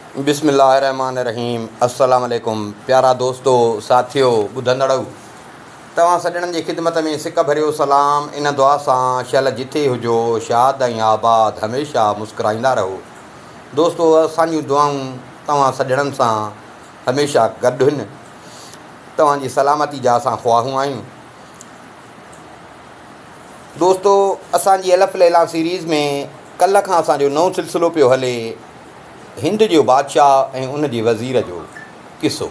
بسم الله الرحمٰن الرحيم السلام عليڪم پيارا دوستو ساٿيو ٻڌندڙؤ توهان سڄڻن جي خدمت ۾ سڪ ڀريو سلام ان دعا سان شل جٿي هجو شاد ۽ آباد هميشه مسڪرائيندا رهو دوستو اسان جون دعائون توهان سڄڻن سان هميشه گڏ هن توهان جي سلامتي جا اسان خواهون آهيون. دوستو اسان جي الف ليلان سيريز ۾ ڪلهه کان اسان جو نئون سلسلو پيو هلي هند جو بادشاهه ۽ ان جي وزير جو قصو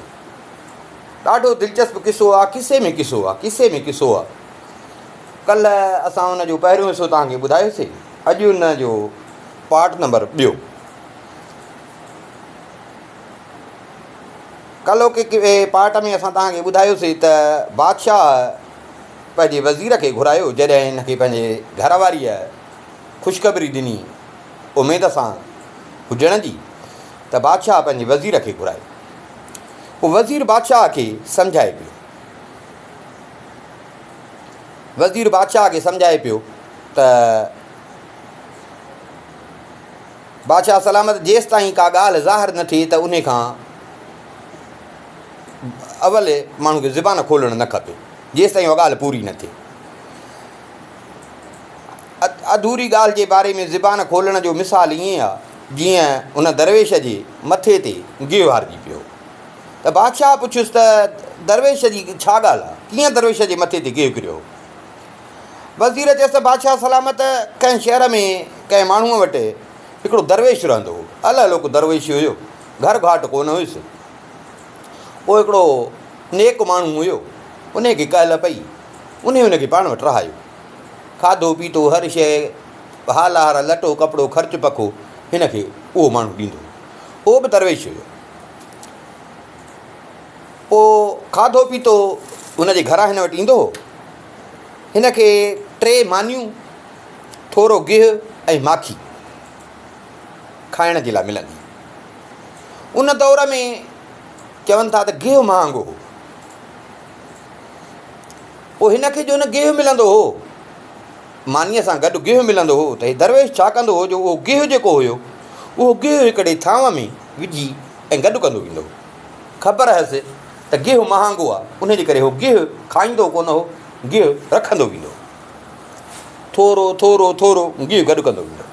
ڏاڍو دلچسپ قصو آ قصي ۾ قصو آ قصي ۾ قصو آ ڪلهه اسان ان جو پهريون حصو توهان کي ٻڌايوسين اڄ ان جو پارٽ نمبر ٻيو ڪلهوڪي پارٽ ۾ اسان توهان کي ٻڌايوسين ته بادشاهه پنهنجي وزير کي گهرايو، جڏهن هن کي پنهنجي گهر واريء خوشخبري ڏني، اميد سان هجڻ جي، ته بادشاهه پنهنجي وزير کي گهرائي. پوء وزير بادشاهه کي سمجهائي پيو. وزير بادشاهه کي سمجهائي پيو ته بادشاهه سلامت جيستائين ڪا ڳالهه ظاهر نه ٿئي ته انهي کان اول ماڻهو کي زبان کولڻ نه کپي. جيستائين اها ڳالهه پوري نه ٿئي. اڌوري ڳالهه جي باري ۾ زبان کولڻ جو مثال ائين آهي، جيئن ان درويش جي مٿي تي گيهه وارجي پيو هو ته بادشاهه پڇيس ته درويش جي ڇا ڳالهه آهي، ڪيئن درويش جي مٿي تي گيهه ڪريو هو؟ وزير چيس ته بادشاهه سلامت ڪنهن شهر ۾ ڪنهن ماڻهوء وٽ هڪڙو درويش رهندو هو. الهلوڪ درويش هيو، گهر گهاٽ ڪونه هيس. اهو هڪڙو نيڪ ماڻهو هيو، انهيء کي ڪهل پئي، انهيء هن کي پاڻ وٽ رهايو. کاڌو پيتو، هر شيء، هار هار، لٽو ڪپڙو، خرچ پکو هن کي اهو ماڻهو ڏيندو هيو. اهو به درويش هيو. پوء کاڌو پيتو هن جي گهران هن وٽ ايندو هو. هن کي ٽي مانيون، ٿورو گيهه ۽ ماکي. کائڻ جي لاء ملندي هئي. ان دور ۾ چون ٿا ته گيهه مهانگو هو. پوء هن کي جو نه گيهه ملندو هو، مانيء سان گڏ گيهه ملندو هو ته هي درويش ڇا ڪندو هو جو اهو گيهه جيڪو هيو، اهو گيهه هڪڙي ٿانو ۾ وجهي ۽ گڏ ڪندو ويندو هو. خبر هيس ته گيهه مهانگو آهي، ان جي ڪري هو گيهه کائيندو ڪونه هو، گيهه رکندو ويندو هو. ٿورو ٿورو ٿورو گيهه گڏ ڪندو ويندو هو.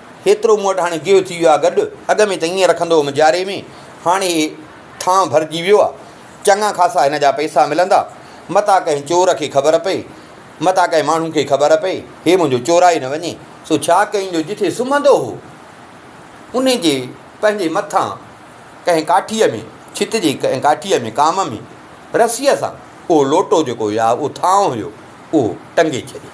هيترو مون وٽ هاڻي گيهه ٿي ويو آهي گڏ، اڳ ۾ ته ائين رکندو هوم جاري ۾، هاڻي هي ٿانء ڀرجي ويو آهي، چڱا خاصا هن جا پئسا ملندا، متان ڪنهن چور کي خبر پئي، متان ڪنهن ماڻهو کي خبر پئي، هي منهنجو چورائي نه وڃي. سو ڇا ڪيائين جو جتي سمهندو هو، ان جي پنهنجي مٿان ڪنهن ڪاٺيء ۾ ڇت جي ڪنهن ڪاٺيء ۾ ڪام ۾ رسيء سان اهو لوٽو جيڪو يا اهو ٿانء هيو، اهو ٽنگي ڇڏيائين.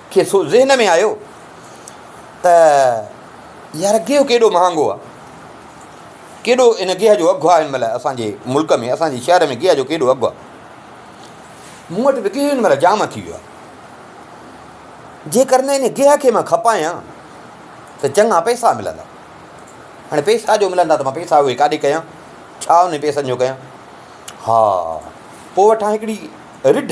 کيس ذهن ۾ آيو ته يار گيهه ڪيڏو مهانگو آهي. ڪيڏو ان گيهه جو اگهه آهي هن مهل اسان جي ملڪ ۾ اسان جي شهر ۾ گيهه جو ڪيڏو اگهه آهي. مون وٽ به گيهه هن مهل جام ٿي ويو آهي. جيڪر نه ان گيهه کي مان کپايان ته چڱا پئسا ملندا. هاڻي پئسا جو ملندا ته مان پئسا اهي ڪاڏي ڪيان؟ ڇا انهن پئسن جو ڪيان؟ ها پوء وٺان هڪڙي رڍ.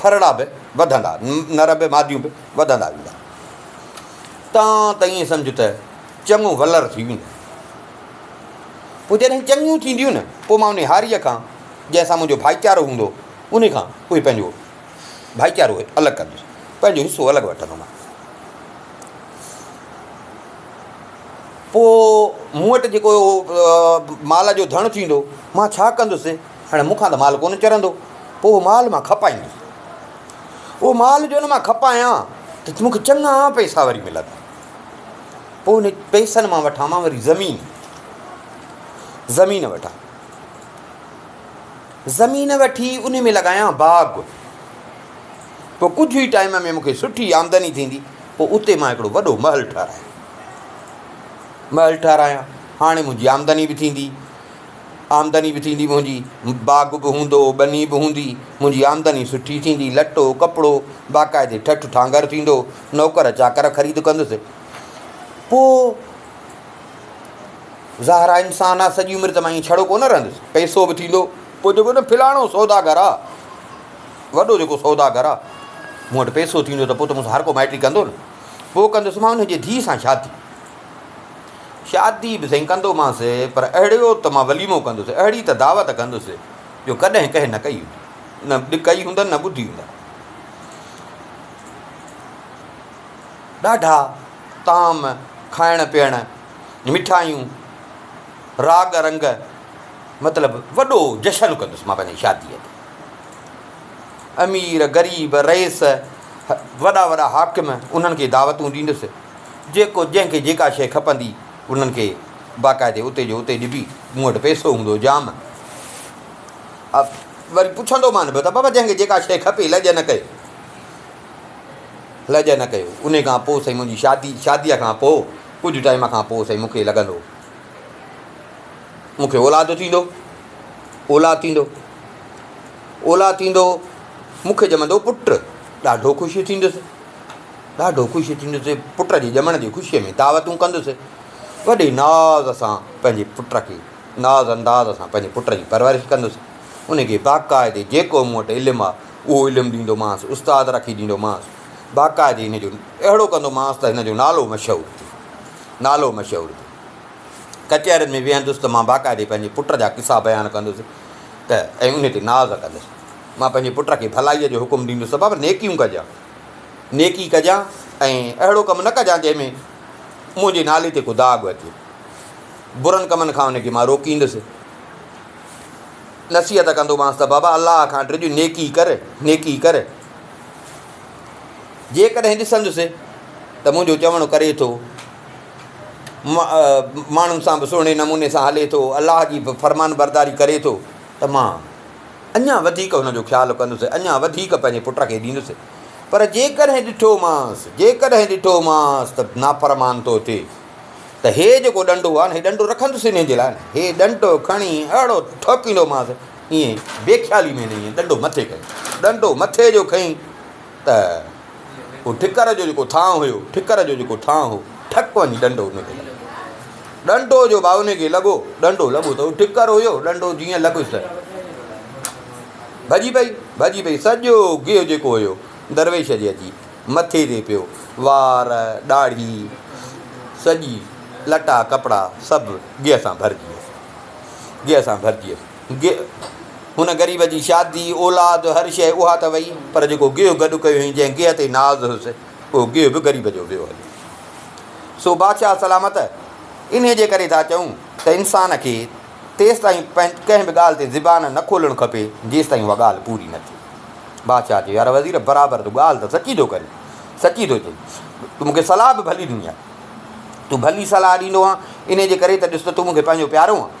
ڦرڙا به وڌندا، نر به ماديون به وڌندا ويندا. تان ته ائين سمجهه ته چڱو ولر ٿي ويندو. پوء جڏهن چڱيون ٿينديون نه، پوء مان انهي هاريء کان، جنهن سان منهنجو ڀائيچارو هوندو، انهي کان اهي پنهنجو ڀائيچارو الڳ ڪندس، پنهنجو حصو الڳ وٺندومانس. پوء مون وٽ جيڪو مال جو ڌڻ ٿيندو، مان ڇا ڪندس؟ هاڻي مون کان ته مال ڪونه چرندو، پوء اهو مال مان کپائيندس. اهو مال جو ان مان کپايان ته مون کي چڱا پئسا وري ملندا. پوء ان پئسن مان وٺان مان وري زمين. زمين وٺان. زمين وٺي ان ۾ لڳايان باغ. پوء ڪجهه ئي ٽائيم ۾ مون کي سٺي آمدني ٿيندي. پوء اتي مان هڪڙو وڏو محل ٺهرايان. محل ٺهرايان. هاڻي منهنجي آمدني به ٿيندي. آمدني به ٿيندي منهنجي، باغ به هوندو، ٻني به هوندي، منهنجي آمدني سٺي ٿيندي، لٽو، ڪپڙو، باقاعدي ٺٺ ٺانگر ٿيندو، نوڪر چاڪر خريد ڪندس. پوء ظاهر آ انسان آ سڄي عمر ته مان ائين ڇڙو ڪونه رهندس، پئسو به ٿيندو، پوء جيڪو نه فلاڻو سوداگر آ، وڏو جيڪو سوداگر آ، مون وٽ پئسو ٿيندو ته پوء ته مون سان هر ڪو مائٽي ڪندو نه، پوء ڪندس مان ان جي ڌيء سان شادي. شادي به سائين ڪندومانس پر اهڙيو ته مان وليمو ڪندس، اهڙي ته دعوت ڪندس جو ڪڏهن ڪنهن نه ڪئي هجي. نه به ڪئي هوندن نه ٻڌي هوندا. ڏاڍا طعام، کائڻ پيئڻ، مٺايون، راڳ رنگ مطلب وڏو جشن ڪندس مان پنهنجي شاديء تي. امير، غريب، رئيس، وڏا وڏا حاڪم انهن کي دعوتون ڏيندس. جيڪو جنهن کي جيڪا شيء کپندي انهن کي باقاعدي اتي جو اتي ڏبي، مون وٽ پئسو هوندو جام ها وري پڇندو مان به ته بابا جنهن کي جيڪا شيء کپي لڄ نه ڪيو لڄ نه ڪيو انهي کان پوء سائين منهنجي شادي شاديء کان پوء ڪجهه ٽائيم کان پوء سائين مون کي لڳندو مون کي اولاد ٿيندو اولاد ٿيندو اولاد ٿيندو مون کي ڄمندو پٽ ڏاڍو خوشي ٿيندس ڏاڍو خوش ٿيندس، پٽ جي ڄمڻ جي خوشيء ۾ دعوتون ڪندس، وڏي ناز سان پنهنجي پٽ کي ناز انداز سان پنهنجي پٽ جي پرورش ڪندس، ان کي باقاعدي جيڪو مون وٽ علم آهي اهو علم ڏيندومانس، استاد رکي ڏيندومانس، باقاعدي هن جو اهڙو ڪندومانس ته هن جو نالو مشهور ٿئي، نالو مشهور ٿئي، ڪچهرين ۾ ويهندس ته مان باقاعدي پنهنجي پٽ جا قصا بيان ڪندس ته ۽ ان تي ناز ڪندس، مان پنهنجي پٽ کي ڀلائيء جو حڪم ڏيندس ته بابا نيڪيون ڪجان. نيڪي ڪجان ۽ اهڙو ڪم نه ڪجان جنهن ۾ منهنجي نالي تي ڪو داغ اچي. برن ڪمن کان هن کي مان روڪيندس. نصيحت ڪندومانس ته بابا الله کان ڊڄ نيڪي ڪر، نيڪي ڪر. جيڪڏهن ڏسندس ته منهنجو چوڻ ڪري ٿو، ماڻهن سان به سهڻي نموني سان هلي ٿو، الله جي به فرمانبرداري ڪري ٿو ته مان اڃا وڌيڪ هن جو خيال ڪندس ۽ اڃا وڌيڪ پنهنجي پٽ کي ڏيندس. پر جيڪڏهن ڏٺومانس، جيڪڏهن ڏٺومانس ته نافرمان ٿو ٿئي ته هي جيڪو ڏنڊو آهي نه، هي ڏنڊو رکندس انهيء جي لاء نه، هي ڏنڊو کڻي اهڙو ٺوڪيندومانس، ايئن بي خيالي ۾ نه، ايئن ڏنڊو مٿي کنئي، ڏنڊو مٿي جو کنئي. ته هو ٺڪر جو جيڪو ٿانء هيو، ٺڪر جو جيڪو ٿانء هو، ٺڪ وڃي ڏنڊو ان کي لڳو. ڏنڊو جو ڀاء ان کي لڳو، ڏنڊو لڳو ته هو ٺڪر هيو، ڏنڊو جيئن لڳس ته ڀڄي پئي، ڀڄي پئي، سڄو گيهه جيڪو هيو درويش جي اچي مٿي تي پيو، وار، ڏاڙهي، سڄي لٽا ڪپڙا سڀ گيهه سان ڀرجي ويس، گيهه سان ڀرجي ويس. گيهه هن غريب جي شادي، اولاد، هر شيء اها ته وئي، پر جيڪو گيهه گڏ ڪيو هئائين، جنهن گيهه تي ناز هيس، اهو گيهه به غريب جو ويو هليو. سو بادشاهه سلامت! انهيء جي ڪري ٿا چئون ته انسان کي تيستائين ڪنهن به ڳالهه تي زبان نه کولڻ کپي، جيستائين اها ڳالهه پوري نه ٿئي. بادشاهه چيو، يار وزير! برابر تون ڳالهه ته سچي ٿو ڪرين، سچي ٿو چئين. تون مون کي صلاح به ڀلي ڏني آهي. تون ڀلي صلاح ڏيندو آهين، انهيء جي ڪري ته ڏس ته تون مون کي پنهنجو پيارو آهين.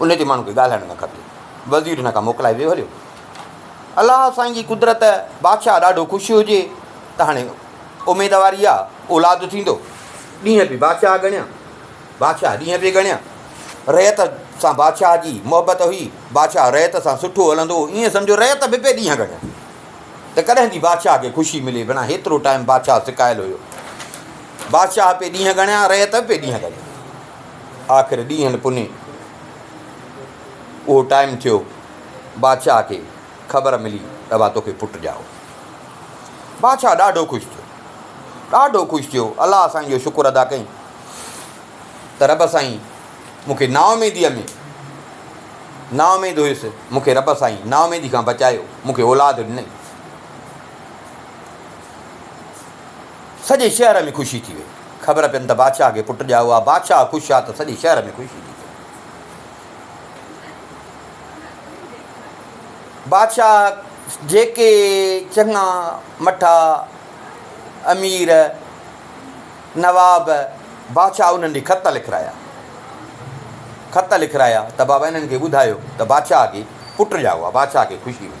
ان تي ماڻهن کي ڳالهائڻ نه کپي. وزير هن کان موڪلائي ويو هليو. الله سائين جي قدرت بادشاهه ڏاڍو خوش هجي ته هاڻي اميد واري آ، اولاد ٿيندو. ڏينهن پي بادشاهه ڳڻيا، بادشاهه ڏينهن پي ڳڻيا. رعيت سان بادشاهه جي محبت هئي، بادشاهه رعيت سان سٺو هلندو هو، ائين سمجهو رعيت به پي ڏينهن ڳڻيا ته ڪڏهن ٿي بادشاهه کي خوشي ملي، بنا هيترو ٽائيم بادشاهه سڪايل هيو. بادشاهه پي ڏينهن ڳڻيا، رعيت به پي ڏينهن ڳڻيا. آخر ڏينهن پني اهو ٽائيم ٿيو، بادشاهه کي خبر ملي ته اها توکي پٽ ڄائو ٿي. بادشاهه ڏاڍو خوش ٿيو، ڏاڍو خوش ٿيو، الله سائين جو شڪر ادا ڪيائين ته رب سائين مون کي نااميديء ۾ نااميد هيس، مون کي رب سائين نااميدي کان بچايو، مون کي اولاد ڏنئي. سڄي شهر ۾ خوشي ٿي وئي. خبر پين ته بادشاهه کي پٽ ڄائو آ. بادشاهه خوش آ ته سڄي شهر ۾ خوشي ٿي ٿئي. بادشاهه جيڪي چڱا مٺا امير نواب بادشاهه انهن ڏي خط لکرايا. خط لکرايا ته بابا انهن کي ٻڌايو ته بادشاهه کي پٽ ڄائو آ. بادشاهه کي خوشي ملي.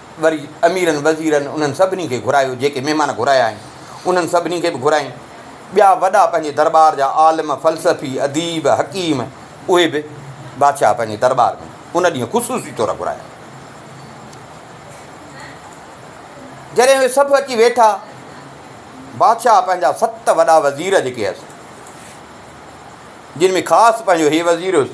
وري اميرن وزيرن انهن سڀني کي گهرايو، جيڪي مهمان گهرايا هئائين، انهن سڀني کي به گهرايائين. ٻيا وڏا پنهنجي درٻار جا عالم، فلسفي، اديب، حڪيم، اهي به بادشاهه پنهنجي درٻار ۾ ان ڏينهن خصوصي طور گهرايا. جڏهن اهي سڀ اچي ويٺا، بادشاهه پنهنجا ست وڏا وزير جيڪي هئس، جن ۾ خاص پنهنجو هي وزير هيس،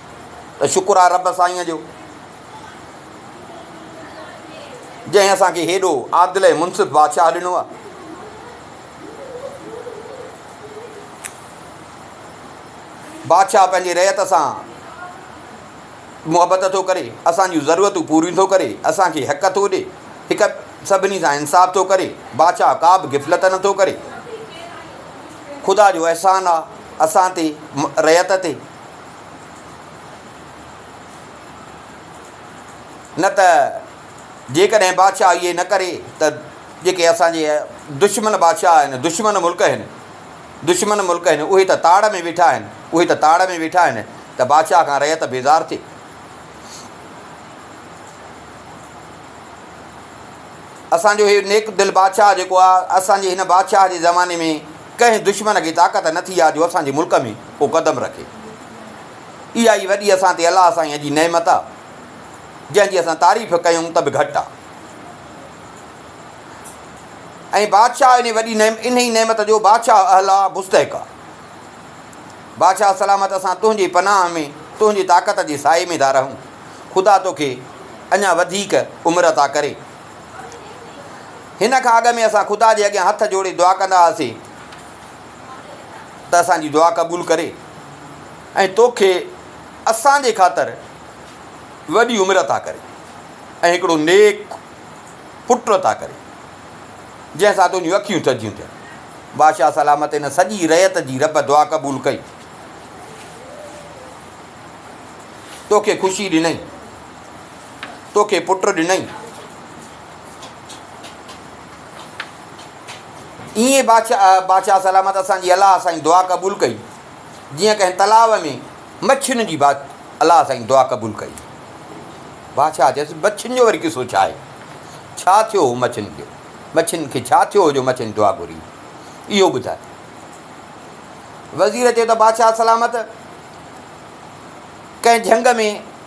ته شڪر آهي رب سائينء جو جنهن اسان کي هيڏو عادل ۽ منصف بادشاهه ڏنو آهي. بادشاهه پنهنجي رعيت سان محبت ٿو ڪري، اسان جون ضرورتون پوريون ٿو ڪري، اسان کي حق ٿو ڏي، هڪ سڀني سان انصاف ٿو ڪري، بادشاهه ڪا به غفلت نه ٿو ڪري. خدا جو احسان آهي اسان تي، رعيت تي. نه ته جيڪڏهن بادشاهه اهي نه ڪري ته جيڪي اسان جي دشمن بادشاهه آهن، دشمن ملڪ آهن، دشمن ملڪ آهن، اهي ته تاڙ ۾ ويٺا آهن، اهي ته تاڙ ۾ ويٺا آهن ته بادشاهه کان رعيت بيزار ٿئي. اسان جو هي نيڪ دل بادشاهه جيڪو آهي، اسان جي هن بادشاهه جي زماني ۾ ڪنهن دشمن کي طاقت نه ٿي آ جو اسان جي ملڪ ۾ ڪو قدم رکي. اها ئي وڏي اسان تي الله سائينء جي نعمت آ، جنهن جي اسان تعريف ڪيون ته به گهٽ آ. ۽ بادشاهه انهي وڏي نعمت انهي نعمت جو بادشاهه اهل آ، مستحق آ. بادشاهه سلامت اسان تنهنجي پناهه ۾، تنهنجي طاقت جي سائي ۾ ٿا رهون. خدا توکي اڃا وڌيڪ عمر عطا ڪري. هن کان اڳ ۾ اسان خدا جي اڳيان هٿ جوڙي دعا ڪندا هئاسين ته اسان جي دعا قبول ڪري ۽ توکي اسان جي خاطر وڏي عمر عطا ڪري ۽ هڪڙو نيڪ پٽ عطا ڪري جنهن سان تنهنجون اکيون ٿڌيون ٿين. بادشاهه سلامت هن سڄي رعيت جي رب دعا قبول ڪئي. توکي خوشي ڏنئي. توکي پٽ ڏنئي. ايئن بادشاهه سلامت اسان جي الله سائين دعا قبول ڪئي جيئن ڪنهن تلاء ۾ مڇين جي الله سائين دعا قبول ڪئي. بادشاهه چيس مڇين جو وري قصو ڇا آهي؟ ڇا ٿيو هو مڇين کي؟ مڇين کي ڇا ٿيو هو جو مڇين دعا گهري؟ اهو ٻڌاء. وزير چيو ته بادشاهه سلامت ڪنهن جهنگ ۾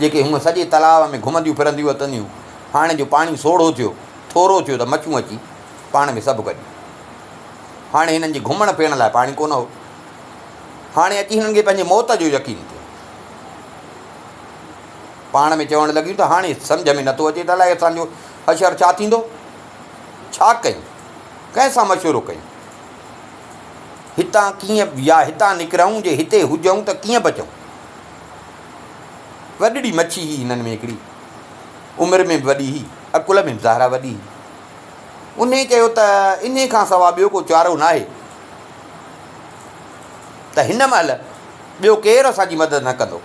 جيڪي هونء سڄي تلاء ۾ گهمنديون ڦرنديون اچنديون هاڻي جو پاڻي سوڙهو ٿيو، ٿورو ٿيو ته مڇون اچي پاڻ کي سڀ ڪجي. هاڻي هنن جي گهمڻ پيئڻ لاء پاڻي ڪونه هو. هاڻي اچي هنن کي پنهنجي موت جو يقين ٿيو. پاڻ ۾ چوڻ لڳيون ته هاڻي سمجهه ۾ نٿو اچي ته الائي اسان جو حشر ڇا ٿيندو؟ ڇا ڪيون؟ ڪنهن سان مشورو ڪيون؟ هتان ڪيئن يا هتان نڪرئون جي هتي هجئون ته ڪيئن بچئون؟ وڏڙي مڇي هئي هنن ۾ هڪڙي، عمر ۾ به وڏي هئي، عقل ۾ به ظاهرا وڏي هئي. انهيء چيو ته انهيء کان سوا ٻيو ڪو چارو ناهي ته هن مهل ٻيو ڪير اسان جي مدد نه ڪندو،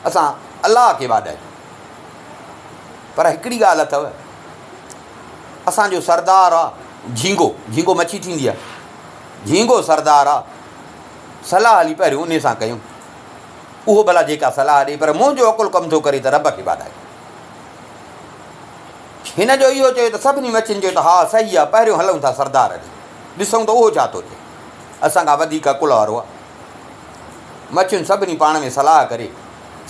اسان الله کي واڏ آهيون. پر هڪڙي ڳالهه اٿئو، اسان جو سردار آ جهينگو، جهينگو مڇي ٿيندي آ، جهينگو سردار آ، صلاح هلي پهريون انهيء سان ڪيون. اهو ڀلا جيڪا صلاح ڏئي پر منهنجو عقل ڪم ٿو ڪري ته رب کي واڌايو. هن جو اهو چيو ته سڀني مڇين چيو ته ها صحيح آ پهريون هلئون ٿا سردار ڏي ڏسئون ته اهو ڇا ٿو چئي اسان کان وڌيڪ عقل وارو آ. مڇين سڀني پاڻ ۾ صلاح ڪري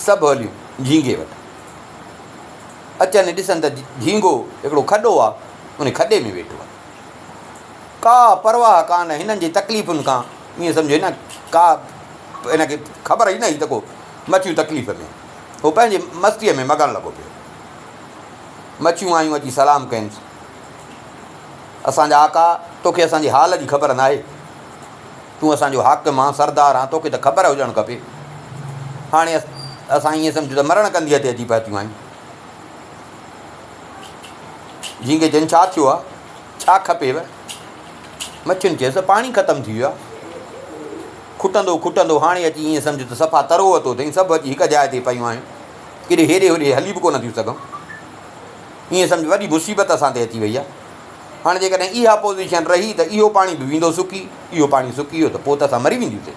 سڀ هليون جهينگي وٽ اچن ڏسن ته جهينگو هڪڙو کڏو آ ان کڏي ۾ ويٺو آ ڪا پرواهه ڪانه هنن جي تڪليفن کان. ائين سمجهي نه ڪا هن کي خبر ئي نه هئي ته ڪو مڇيون تڪليف ۾. هو پنهنجي مستيء ۾ مگڻ لڳو پيو. مڇيون آيون اچي سلام ڪينس. اسان جا آقا، توکي اسان جي حال جي خبر ناهي. تون اسان جو حاڪم آن، سردار آن، توکي ته خبر هجڻ کپي. هاڻي اسان ائين سمجهون ته مرڻ ڪنڌيء تي اچي پهتيون آهيون. جهينگي چين، ڇا ٿيو آهي؟ ڇا کپيو؟ مڇين چيس ته پاڻي ختم ٿي ويو آهي. کٽندو کٽندو هاڻي اچي ائين سمجهه ته صفا ترو وتو اٿئي. سڀ اچي هڪ جاء تي پيون آهيون. ڪيڏي هيڏي هوڏي هلي به ڪونه ٿيون سگهون. ائين سمجهه وڏي مصيبت اسان تي اچي وئي آهي. هاڻي جيڪڏهن اها پوزيشن رهي ته اهو پاڻي به ويندو سڪي. اهو پاڻي سڪي ويو ته پوء ته اسان مري وينديونسين.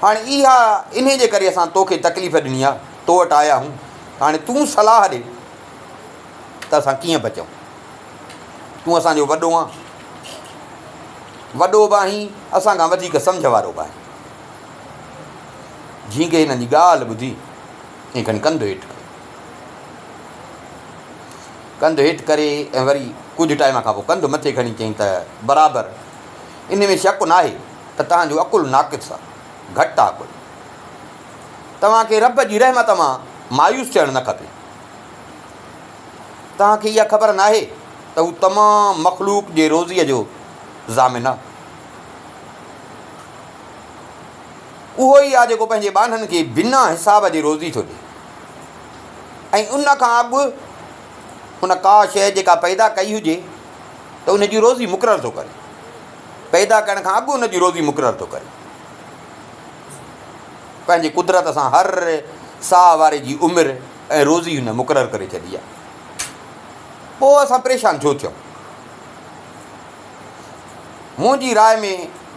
هاڻي اها انهي جي ڪري اسان توکي تڪليف ڏني آهي. تو وٽ آيا آهيون. هاڻي تون صلاح ڏي. ته اسان ڪيئن بچون؟ تون اسان جو وڏو آهين، وڏو به آهين، اسان کان وڌيڪ سمجهه وارو به آهين. جهينگي هنن جي ڳالهه ٻڌي ۽ کڻي ڪنڌ هيٺ ڪيو. ڪنڌ هيٺ ڪري ۽ وري ڪجهه ٽائيم کان پوء ڪنڌ مٿي کڻي چيائين ته برابر ان ۾ شڪ ناهي ته توهان جو عقل ناقص آهي، گهٽ آهي عقل. توهان کي رب جي رحمت مان مايوس ٿيڻ نه کپي. توهان کي اها خبر ناهي ته هو تمام مخلوق جي روزيء جو ضامن آهي. اهو ئي آهي جيڪو پنهنجي ٻانهن کي بنا حساب جي روزي ٿو ڏئي ۽ ان کان اڳ هن ڪا شيء جيڪا پيدا ڪئي هجي ته ان جي روزي مقرر ٿو ڪري، پيدا ڪرڻ کان اڳ ان جي روزي مقرر ٿو ڪري. پنهنجي قدرت سان هر ساهه واري جي عمر ۽ روزي هن مقرر ڪري ڇڏي آهي. پوء اسان پريشان ڇو ٿيون؟ منهنجي راء ۾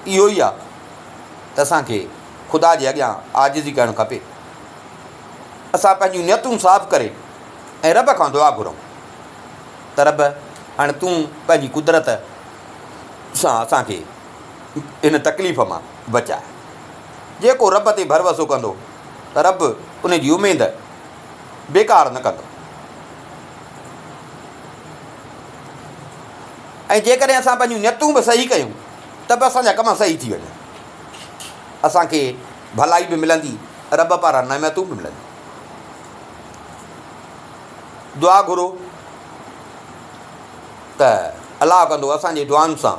اهو ئي آهي ته اسان کي خدا جي اڳيان عاجزي ڪرڻ کپي. اسان پنهنجون نيتون صاف ڪري ۽ رب کان دعا گهرون ته رب هاڻي تون پنهنجي قدرت سان اسان کي ان تڪليف مان بچاء. جيڪو رب تي ڀروسو ڪندو ته رب ان جي اميد بيڪار نه ڪندو ۽ جيڪڏهن اسان پنهنجون نيتون به صحيح ڪيون ته به اسان جا ڪم صحيح ٿي وڃن. اسان کي ڀلائي به ملندي رب پاران نعمتون به ملنديون. دعا گهرو ته الله ڪندو اسان جي دعائن سان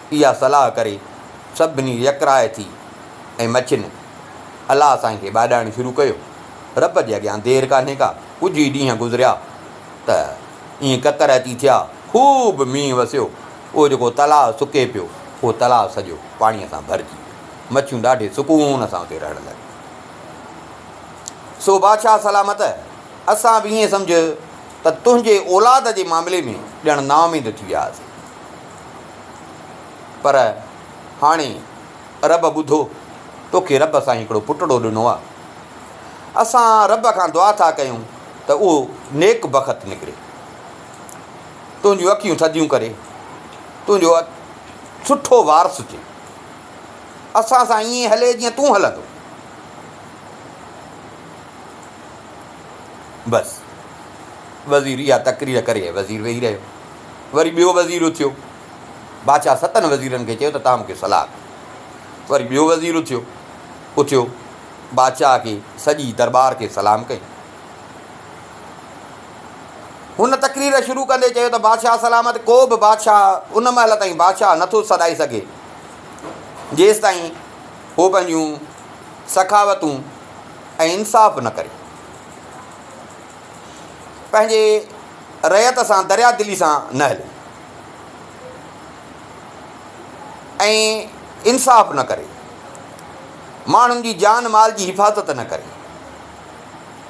اها صلاح ڪري سڀني يڪراء ٿي ۽ مڇين الله سائين کي ٻاڏائڻ شروع ڪيو. رب جي اڳيان دير ڪانهي ڪا، ڪجهه ئي ڏينهن گذريا ته ائين ڪڪر اچي ٿيا، خوب مينهن وسيو، اهو جيڪو تلاء سڪي پيو، اهو تلاء سڄو پاڻيء سان ڀرجي ويو. مڇيون ڏاڍي سڪون سان اتي رهڻ لڳيون. سو بادشاهه سلامت، اسان به ائين سمجهه ته تنهنجي اولاد جي معاملي ۾ ڄڻ نااميد ٿي وياسين. پر هاڻي رب ٻڌو توکي رب سان هڪڙو پٽڙو ڏنو آهي اسان رب کان دعا ٿا ڪيون ته اهو نيڪ بخت نڪري تنهنجون اکيون ٿڌيون ڪري تنهنجو سٺو وارث ٿئي اسان سان ائين هلي جيئن تون هلندو بس وزير اها تقرير ڪري وزير ويهي رهيو وري ٻيو وزير اٿيو. بادشاهه ستن وزيرن کي چيو ته توهان مون کي صلاح ڪيو. وري ٻيو وزير اٿيو. اٿيو. بادشاهه کي سڄي درٻار کي سلام ڪيائين. هن تقرير شروع ڪندي چيو ته بادشاهه سلامت ڪو به بادشاهه ان مهل تائين بادشاهه نه ٿو سڏائي سگهي جيستائين هو پنهنجون سخاوتون ۽ انصاف نه ڪري. پنهنجي رعيت سان دريا دلي سان نه هلي ۽ انصاف نه ڪري، ماڻهن جي جان مال جي حفاظت نه ڪري،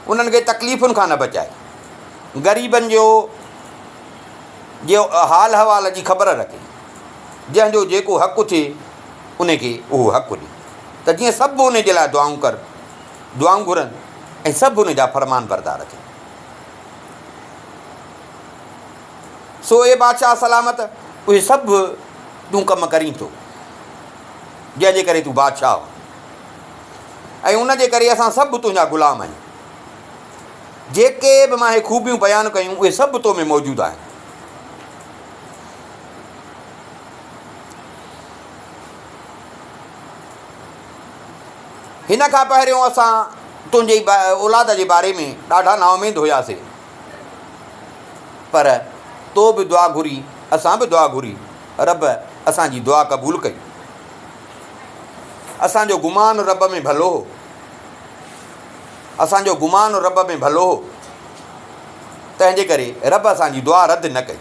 انهن کي تڪليفن کان نه بچائي، غريبن جو جي حال احوال جي خبر رکي، جنهن جو جيڪو حق ٿئي ان کي اهو حق ڏي ته جيئن سڀ ان جي لاء دعائون ڪر دعائون گهرن ۽ سڀ ان جا فرمانبردار ٿين. سو اي بادشاهه سلامت! اهي سڀ تون ڪم ڪرين ٿو، جنهن جي ڪري تون بادشاهه آهين ۽ ان جي ڪري اسان سڀ تنهنجا غلام آهيون. جيڪي به مان اهي خوبيون بيان ڪيون، اهي سڀ تو ۾ موجود آهن. هن کان پهريون اسان تنهنجي اولاد جي باري ۾ ڏاڍا نااميد هياسين. پر تو به دعا گهري اسان به دعا گهري رب اسان جي دعا قبول ڪئي. اسان جو گمان رب ۾ ڀلو هو. اسان جو گمان رب ۾ ڀلو هو. تنهنجي ڪري رب اسان جي دعا رد نه ڪئي.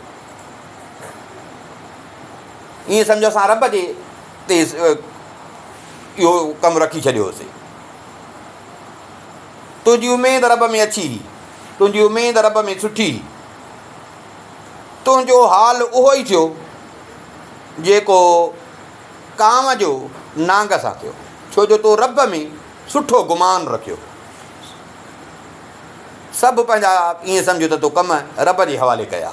ائين سمجهو اسان رب جي تي اهو ڪم رکي ڇڏيو هوسي. تنهنجي اميد رب ۾ اڇي هي، تنهنجي اميد رب ۾ سٺي هي. تنهنجو حال اهو ئي ٿيو جيڪو ڪانء جو نانگ سان ٿيو، ڇو جو تو رب ۾ سٺو گمان رکيو. سڀ پنهنجا ائين سمجهه ته تو ڪم رب جي حوالي ڪيا.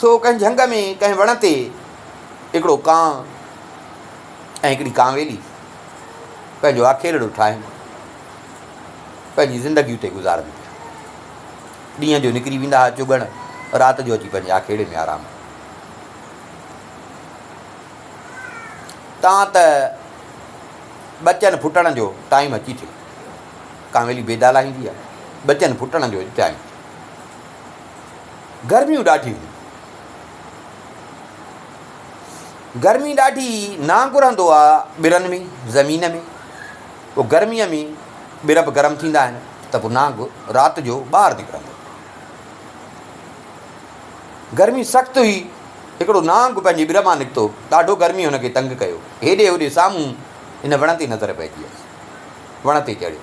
سو ڪنهن جهنگ ۾ ڪنهن وڻ تي هڪڙو ڪانء ۽ هڪڙي ڪانويلي پنهنجو آکيرڙو ٺاهين پنهنجي زندگي اتي گذارن پيا. ڏينهن جو نڪري ويندا ها چڳڻ، رات جو اچي پنهنجي آکيرڙي ۾ آرام ڪن. تان ته ٻچن ڦٽڻ جو ٽائيم اچي ٿيو. ڪانويلي بيدا لاهيندي آهي، ٻچن ڦٽڻ جو ٽائيم. گرميون ڏاڍيون هيون. گرمي ڏاڍي نانگ رهندو آ ٻرن ۾ زمين ۾ پوء گرميء ۾ ٻر به گرم ٿيندا آهن ته پوء نانگ رات جو ٻاهر نڪرندو گرمي سخت هئي هڪڙو نانگ پنهنجي ٻر مان نڪتو ڏاڍو گرمي هن کي تنگ ڪيو هيڏي هوڏي سامهون هن وڻ تي نظر پئجي ويس وڻ تي چڙهيو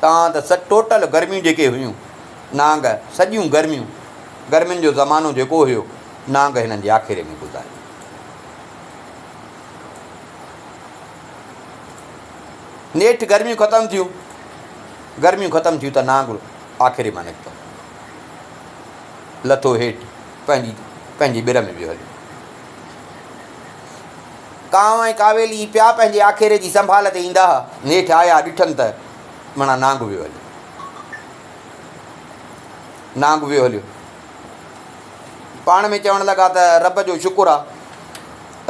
تان ته سچ ٽوٽل گرميون جيڪي هيون نانگ سڄيون گرميون گرمين جو زمانو جيڪو هيو نانگ هنن جي آکيري ۾ گذاريو. نيٺ گرميون ختم ٿيون گرميون ختم ٿيون ته نانگ آکيري مان نڪتو لٿو هيٺ پنهنجي پنهنجي ٻر ۾ ويو هليو. ڪانء ۽ ڪاويلي پيا پنهنجي آکيري جي سنڀال تي ايندا ها، نيٺ آيا ڏٺن ته مڻا نانگ ويو هليو. نانگ ويو هليو. پاڻ ۾ چوڻ لڳا ته رب جو شڪر آ،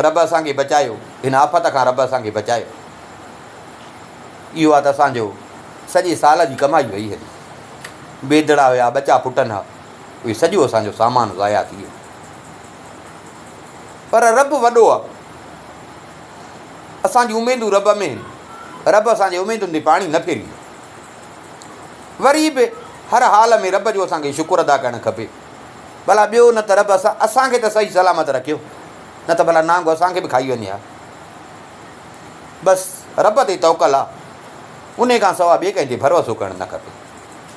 رب اسان کي بچايو، هن آفت کان رب اسان کي بچايو. اهو آ ته اسان جو سڄي سال جي ڪمائي وئي هلي. بيدڙا هيا، ٻچا پٽن ها، اهي سڄو اسان جو سامان ضايع ٿي ويو. پر رب وڏو آ. اسان جون اميدون رب ۾ هن. رب اسان جي اميدن تي پاڻي نه ڦيريندو. وري به هر حال ۾ رب جو اسان کي شڪر ادا ڪرڻ کپي. ڀلا ٻيو نه ته رب اسان اسان کي ته صحيح سلامت رکيو نه ته ڀلا نانگ اسان کي به کائي وڃي ها. بس رب تي توڪل آ. انهي کان سوا ٻئي ڪنهن تي ڀروسو ڪرڻ نه کپي.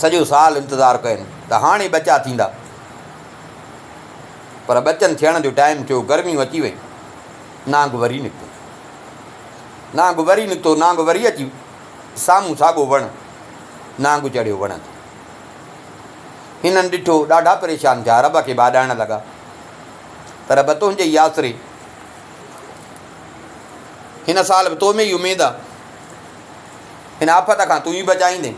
سڄو سال انتظار ڪين ته هاڻي ٻچا ٿيندا پر ٻچن ٿيڻ جو ٽائيم ٿيو گرميون اچي ويون نانگ وري نڪتو نانگ وري نڪتو نانگ وري اچي سامهون ساڳو وڻ نانگ چڙهيو وڻ تي هنن ڏٺو ڏاڍا پريشان ٿيا رب کي باڏائڻ لڳا ته رب تنهنجي ئي آسري هن سال به تو ۾ ئي اميد آ ان آفت کان تون ئي بچائيندين.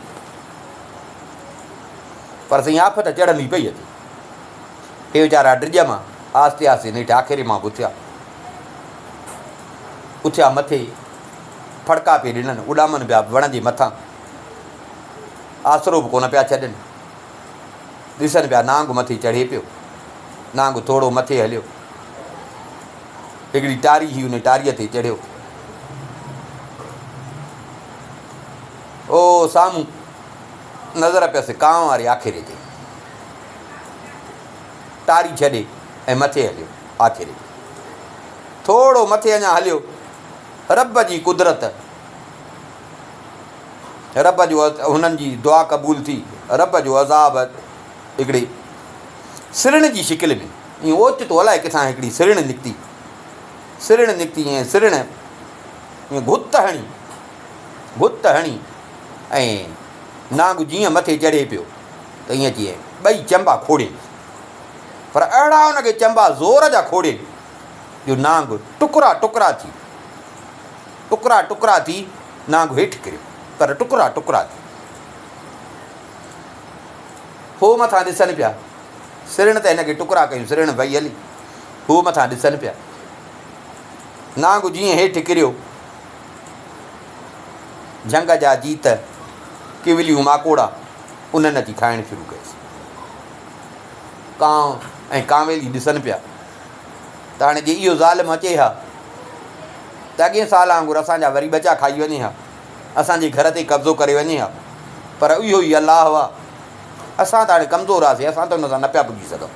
پر سائين آفت چڙهندي پئي اچي. اهي ويچارا ڊڄ مان آهستي آهستي نيٺ آکيري مان به اٿيا. اٿيا مٿي ڦڙڪا پئي ڏنن، اڏامن پيا وڻ جي مٿان. آسرو به ڪونه پيا ڇڏن. ڏسن پيا نانگ مٿي چڙهي پيو. نانگ ٿورو مٿي هليو. هڪڙي ٽاري هئي، ان ٽاريء تي چڙهيو. او سامهون نظر پيس ڪانء واري آکيري تي. ٽاري ڇڏي ۽ مٿي هليو. آکيري ٿورو مٿي اڃا هليو. رب جي قدرت، رب جو هنن جي دعا قبول ٿي. رب جو عذاب هڪڙي سرڻ جي شڪل ۾. ائين اوچتو الائي ڪٿان هڪڙي سرڻ نڪتي، سرڻ نڪتي ۽ سرڻ ائين گهت هڻي، گهت هڻي ۽ نانگ جيئن مٿي چڙهي پيو ته ائين اچي ائين ٻئي چنبا کوڙين. پر اهڙا ان کي چنبا زور جا کوڙين جو نانگ ٽڪرا ٽڪرا ٿي، ٽڪرا ٽڪرا ٿي نانگ هيٺ ڪريو پر ٽڪرا ٽڪرا ٿي هو مٿان ڏسن پيا. سرڻ ته هن کي ٽڪرا ڪيون سرڻ ڀئي هلي هو مٿان ڏسن پيا نانگ جيئن هيٺ ڪريو جهنگ جا جيت ڪوليون ماڪوڙا انهن اچي کائڻ شروع ڪيس ڪانء ۽ ڪانويلي ڏسن پيا ته هاڻي جي اهو ظالم اچي ها ته اڳين سال وانگر اسان جا وري ٻچا کائي وڃي ها اسان جي گهر تي قبضو ڪري وڃي ها پر اهو ئي الله هئا اسان ته هاڻي ڪمزور هئاسين، اسان ته ان سان نه پيا پڄي سگهون.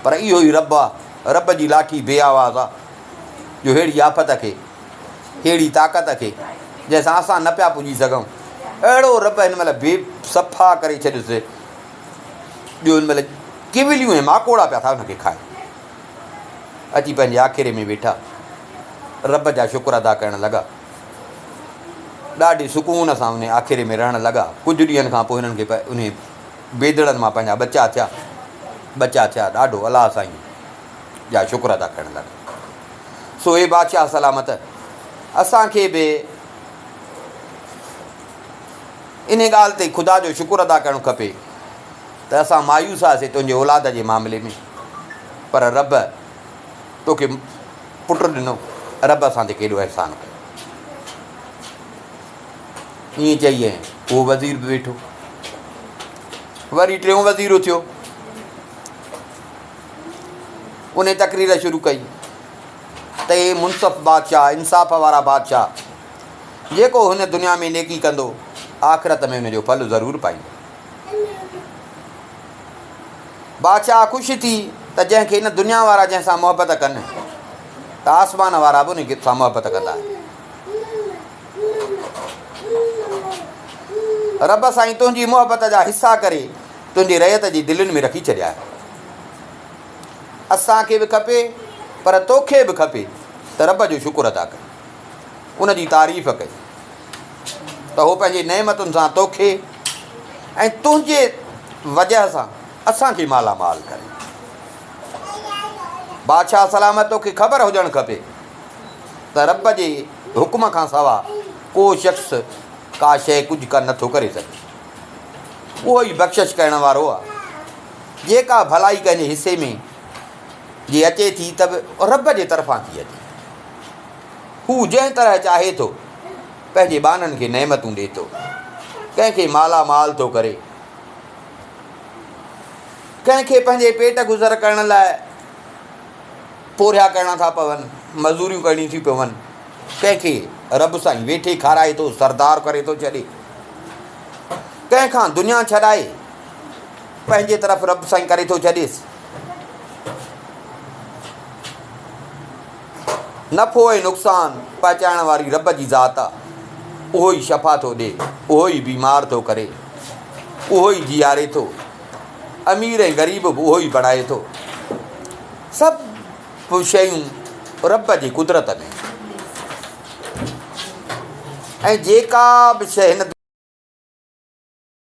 پر اهو ئي رب آ، رب جي لاٺي بي آواز آ، جو ههڙي آفت کي، ههڙي طاقت کي، جنهن سان اسان نه پيا پڄي سگهون، اهڙو رب هن مهل بي صفا ڪري ڇڏيس، جو هن مهل ڪيوليون ۽ ماڪوڙا پيا ٿا ان کي کائن. اچي پنهنجي آکيري ۾ ويٺا، رب جا شڪر ادا ڪرڻ لڳا. ڏاڍي سڪون سان انهيء آکيري ۾ رهڻ لڳا. ڪجهه ڏينهن کان پوء هنن کي انهيء بيدڙن مان پنهنجا ٻچا ٿيا. ٻچا ٿيا ڏاڍو الله سائين جا شڪر ادا ڪرڻ لڳا. سو اي بادشاهه سلامت! اسان کي به انهيء ڳالهه تي خدا جو شڪر ادا ڪرڻ کپي ته اسان مايوس هئاسين تنهنجي اولاد جي معاملي ۾ پر رب توکي پٽ ڏنو، رب اسان تي ڪيڏو احسان ڪيو. ائين چئي ۽ اهو وزير به ويٺو. وري ٽيون وزير اٿيو، ان تقرير شروع ڪئي ته اي منصف بادشاهه انصاف وارا بادشاهه جيڪو هن دنيا ۾ نيڪي ڪندو آخرت ۾ ان جو ڦل ضرور پائيندو بادشاهه خوش ٿي ته جنهن کي هن دنيا وارا جنهن سان محبت ڪن ته آسمان وارا به ان سان محبت ڪندا. رب سائين تنهنجي محبت جا حصا ڪري تنهنجي رعيت جي دلين ۾ رکي ڇڏيا آهن. اسان کي به کپي پر توکي به کپي ته رب جو شڪر ادا ڪرين، ان جي تعريف ڪرين ته هو پنهنجي نعمتن سان توکي ۽ تنهنجي وجهه سان اسان کي مالا مال ڪري. بادشاهه سلامت توکي خبر هجڻ کپي ته رب جي حڪم کان سوا ڪو شخص ڪا شيء ڪجهه ڪن نٿو ڪري سگهي. اهو ئي بخشش ڪرڻ وارو آهي. جيڪا ڀلائي ڪنهن جي حصي ۾ جي اچي ٿي ته به رب جي طرفان ٿي اچي. هو جنهن طرح چاهي ٿو. پنهنجي ٻانهن کي نعمتون ڏي ٿو، ڪنهن کي مالا مال ٿو ڪري، ڪنهن کي پنهنجي پيٽ گذر ڪرڻ لاء پورهيا ڪرڻا ٿا پون، مزوريون ڪرڻيون ٿيون پون، ڪنهن کي رب سائين ويٺي کارائي ٿو، سردار ڪري ٿو ڇڏي، ڪنهن کان دنيا ڇڏائي پنهنجي طرف رب سائين ڪري ٿو ڇڏيس. نفعو ۽ نقصان پهچائڻ واري رب جي ذات آ، اهو ئي شفا ٿو ڏي، اهو ئي بيمار ٿو ڪري، اهو ئي جياري ٿو، امير ۽ غريب به اهو ئي بڻائي ٿو، سڀ شيون رب جي قدرت ۾ ۽ جيڪا به شيء هن